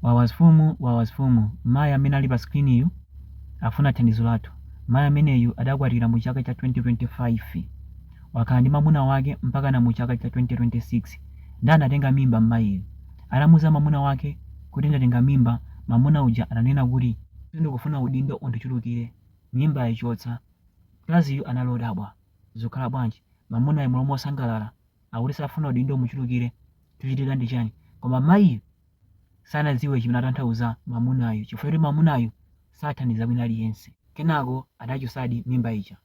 Wawa asfumu, wawa asfumu, mayi amene ali pa screen yu akufuna thandizo lathu. Mayi ameneyu adakwatira mu chaka cha 2025. Wakhala ndi mamuna wake mpakana mu chaka cha 2026 nde anatenga mimba mmayiyu. Atamuza mamuna wake kuti ndatenga mimba mamuna uja ananena kuti. Sindikufuna udindo undichulukire, mimbayi chotsa. Mkaziyu anali odabwa. Zukhala bwanji? Mamunayo mmalo mosangalala akuti safuna udindo umuchulukire, chuchitika ndi chani? Koma mayiyu sanadziwe chimene atanthauza mamunayu chifukwa kuti mamunayu sathandiza wina aliyense kenako adachosadi mimba ija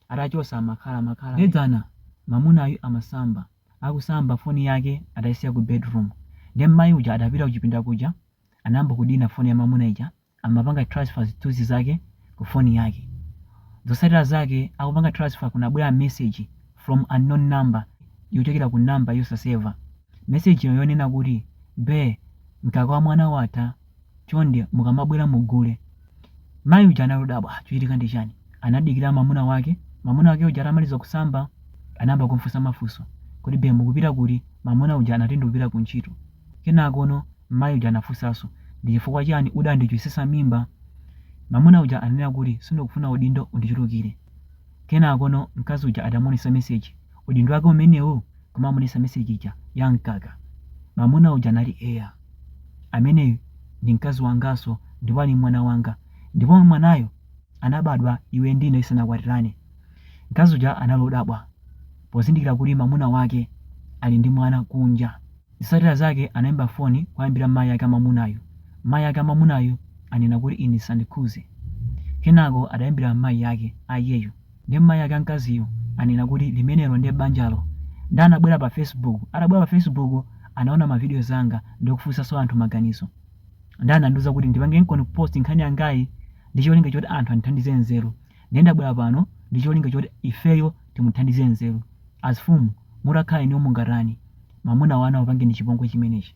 atachosa wakhala wakhala nde dzana mamunayu amasamba akusamba foni yake adaisiya ku bedroom nde mmayi uja adapita kuchipinda kuja anayamba kudina foni ya mamuna ija amapanga transfer zithunzi zake ku phone yake zotsatira zake akupanga transfer kunabwela message from unknown number yochokera ku number yosaseva message yo yonena kuti be mkaka wa mwana watha chonde mukamabwela mugule mayi uja anali odabwa "Ah, chochitika ndi chani anadikira mamuna wake mamuna wake uja atamaliza kusamba anayamba kumfunsa mafunso kuti be mukupita kuti mamuna uja anati ndikupita ku ntchito Kenakono mayi uja anafunsanso, Ndi chifukwa chiyani udandichotsetsa mimba? Mamuna uja ananena kuti, Sindikufuna udindo undichulukire. Kenakono mkazi uja atamuonetsa message, Udindo wake umenewu? kumamuonetsa message ija ya mkaka. Mamuna uja anati, Eya. Ameneyu ndi mkazi wanganso ndipo ali ndi mwana wanga. Ndipo mwanayo anabadwa iwe ndi ine tisanakwatirane. Mkazi uja anali odabwa pozindikira kuti mamuna wake ali ndi mwana kunja. Zotsatira zake anaimba foni kuwayimbira mayi ake a mwamunayo. Mayi ake a mwamunayo anena kuti ine zisandikhuze. Kenako adaimbira mayi ake a iyeyo. Nde mayi ake a mkaziyo anena kuti limenelo nde banjalo. Nde anabwera pa Facebook. Atabwera pa Facebook anaona ma videos anga ndikufunsaso anthu maganizo. Nde anandiuza kuti ndipangirenkoni post nkhani yangayi ndicholinga choti anthu andithandize nzeru. Ndiye ndabwera pano ndi cholinga choti ifeyo timuthandize nzeru. Asfumu, mutakhala inuyo mungatani mamuna wanu atakupangani chipongwe chimenechi?